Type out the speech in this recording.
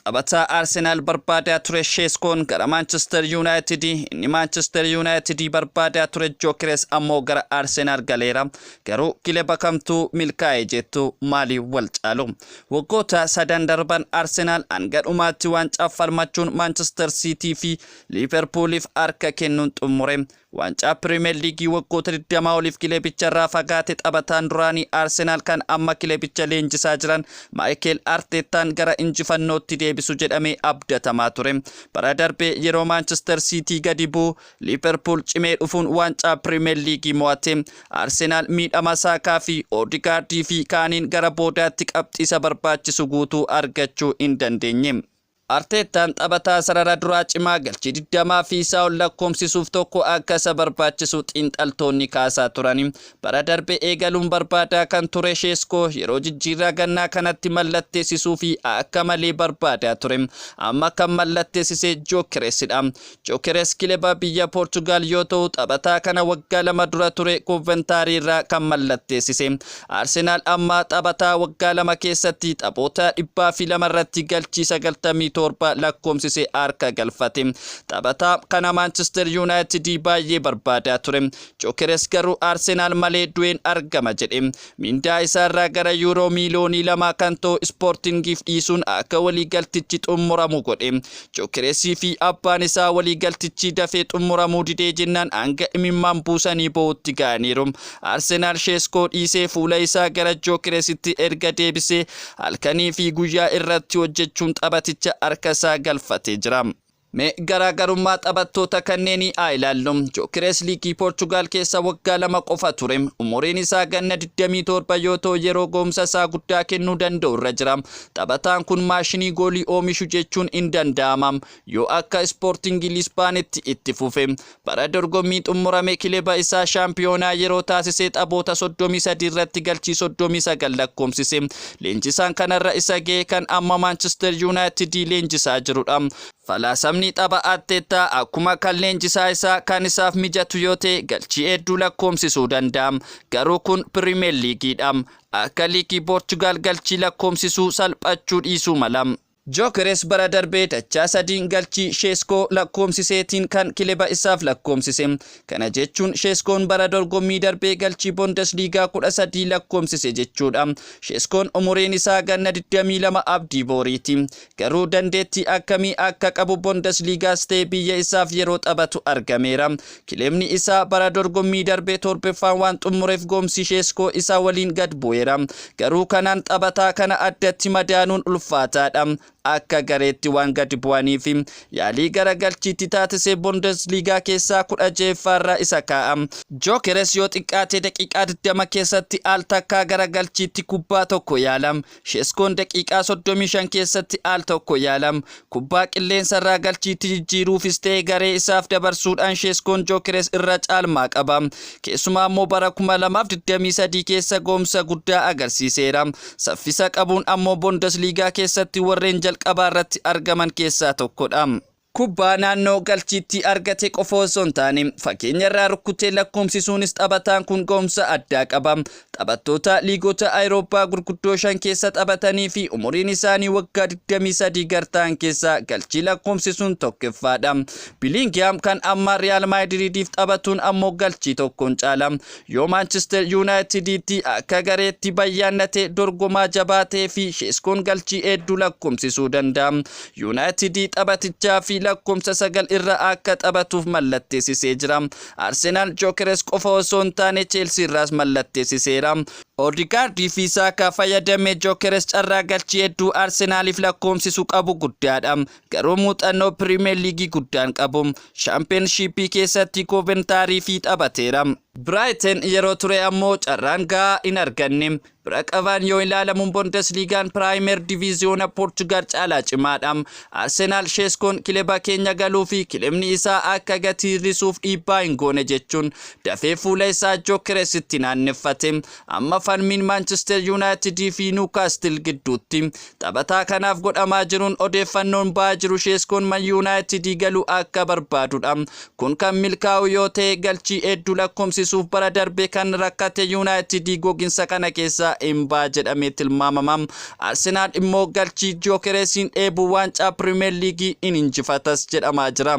Taphataa Arsenaal barbaadaa ture Sheeskoon gara Maanchister Yuunaayitidi, inni Maanchister Yuunaayitidi barbaadaa ture Jookeres ammoo gara Arsenaal galeera. Garuu kileba kamtuu milkaa'e jettu maaliin wal caalu? Waggoota sadan darban Arsenaal hanga dhumaatti waancaaf falmachuun Maanchister Siitii fi Liiverpuuliif harka kennuun xummure. Waancaa Piriimeer Liigii waggoota 20 oliif kilebicharraa fagaate taphataan duraanii Arsenaal kan amma kilebicha leenjisaa jiran Maayikeel Arteettaan gara injifannootti deebisu jedhamee abdatamaa ture. Bara darbe yeroo Maanchister Siitii gadi bu'u Liiverpuul cimee dhufuun waancaa Piriimeer Liigii mo'ate. Arsenaal miidhama Saakaa fi Oodigaardii fi kaaniin gara boodaatti qabxii isa barbaachisu guutuu argachuu hin dandeenye. Arteettaan taphataa sarara duraa cimaa galchii 20 fi isaa ol lakkoomsisuuf tokko akka isa barbaachisu xiinxaltoonni kaasaa turani. Bara darbe eegaluun barbaadaa kan ture Sheeskoo yeroo jijjiirraa gannaa kanatti mallatteessisuufi akka malee barbaadaa ture. Amma kan mallatteessise Gyökeresidha. Gyokeres kileba biyya Poorchugaal yoo ta'u taphataa kana waggaa lama dura ture Kooventaarii irraa kan mallatteessise. Arsenaal amma taphataa waggaa lama keessatti taphoota 202 irratti galchii 97 lakkoomsise harka galfate. Taphataa kana Maanchister Yuunaayitidii baay'ee barbaadaa ture. Gyokeres garuu Arsenaal malee du'een argama jedhe. Mindaa isaarraa gara Yuuroo miiliyoonii lamaa kan ta'u Ispoortingiif dhiisuun akka waliigaltichi xumuramu godhe. Gyokeresii fi abbaan isaa waliigaltichi dafee xumuramuu didee jennaan hanga imimmaan buusanii boo'utti ga'aniiru. Arsenaal Sheeskoo dhiisee fuula isaa gara Gyokeresitti erga deebisee halkanii fi guyyaa irratti hojjechuun taphaticha harka isaa galfatee jira. Mee garaagarummaa taphattoota kanneenii haa ilaallu. Jookirees liigii Poorchugaal keessa waggaa lama qofa ture. Umuriin isaa ganna 27 yoo ta'u yeroo gahumsa isaa guddaa kennuu danda'u irra jira. Taphataan kun maashinii goolii oomishu jechuun in danda'ama. Yoo akka Ispoortingi Lisbaanitti itti fufe. Bara dorgommii xummurame kileba isaa shaampiyoonaa yeroo taasise taphoota 33 irratti galchii 39 lakkoomsise. Leenjisaan kanarra isa ga'e kan amma Maanchister Yuunaayitidii leenjisaa jirudha. Falaasamni tapha Arteettaa akkuma kan leenjisaa isaa kan isaaf mijatu yoo ta'e galchii hedduu lakkoomsisuu danda'a. Garuu kun Piriimeer Liigiidha. Akka liigii Poorchugaal galchii lakkoomsisuu salphachuu dhiisuu mala. Gyökeres bara darbe dachaa sadiin galchii Sheeskoo lakkoomsiseetiin kan kileba isaaf lakkoomsise. Kana jechuun Sheeskoon bara dorgommii darbee galchii Bondesliigaa 13 lakkoomsise jechuudha. Sheeskoon umuriin isaa ganna 22 abdii booriiti. Garuu dandeettii akkamii akka qabu Bondesliigaas ta'e biyya isaaf yeroo taphatu argameera. Kilebni isaa bara dorgommii darbe torbeffaan waan xummureef goomsi Sheeskoo isa waliin gad bu'eera. Garuu kanaan taphataa kana addatti madaaluun ulfaataadha. Akka gareetti waan gad bu'aniif yaalii garagalchiitti taatise Bundesliigaa keessaa 16ffaarra isa kaa'a. Gyökeres yoo xiqqaate daqiiqaa 20 keessatti al takkaa garagalchiitti kubbaa tokko yaala. Sheeskoon daqiiqaa 35 keessatti al tokko yaalam. Kubbaa qilleensarraa galchiitti jijjiiruufis ta'e garee isaaf dabarsuudhaan Sheeskoon Jookeres irra caalmaa qaba. Keessumaa ammoo bara 2023 keessa gahumsa guddaa agarsiiseera. Saffisa qabuun ammoo Bundesliigaa keessatti warreen jalqabaa irratti argaman keessaa tokkodha. Kubbaa naannoo galchiitti argate qofa osoo hin taane fageenyarraa rukkutee lakkoomsisuunis taphataan kun ga'umsa addaa qaba. Taphattoota liigota Ayirooppaa gurguddoo shan keessa taphatanii fi umuriin isaanii waggaa 23 gad ta'an keessaa galchii lakkoomsisuun tokkoffaadha. Biliingihaam kan ammaa Riyaal Maadiriidiif taphatuun ammoo galchii tokkoon caala. Yoo Maanchister Yuunaayitiditti akka gareetti bayyaannatee dorgomaa jabaa ta'ee fi Sheeskoon galchii hedduu lakkoomsisuu danda'a. Yuunaayitidii taphatichaa fi lakkoomsa sagal irra akka taphatuuf mallatteessisee jira. Arsenaal Jokeres qofa osoo hin taane Cheelsii irraas mallatteessiseera. Oodigaardii fi Saakaa fayyadamee Jokeres carraa galchii hedduu Arsenaaliif lakkoomsisu qabu guddaadha. Garuu muuxannoo Piriimeer Liigii guddaan qabu. Shaampiyoonshiippii keessatti Kooventaariifi taphateera. Biraayiten yeroo ture ammoo carraan gahaa hin arganne. Bira qabaan yoo ilaalamu Bondesliigaan Piraayimeer Diviiziyoona Poorchugaal caalaa cimaadha. Arsenaal Sheeskoon kileba keenya galuufi kilebni isaa akka gatii hir'isuuf dhiibbaa hin goone jechuun dafee fuula isaa Jookeresitti naanneffate. Amma falmiin Maanchister Yuunaayitidiifi Niwukaastil gidduutti Taphataa kanaaf godhamaa jiruun odeeffannoon ba'aa jiru Sheeskoon Man Yuunaayitidii galuu akka barbaadudha. Kun kan milkaa'u yoo ta'e galchii hedduu lakkoomsisuuf bara darbe kan rakkate Yuunaayitidii goginsa kana keessaa hin ba'a jedhamee tilmaamama. Arsenaal immoo galchii Gyokereesiin dheebuun waancaa Piriimeer Liigii hin injifatas jedhamaa jira.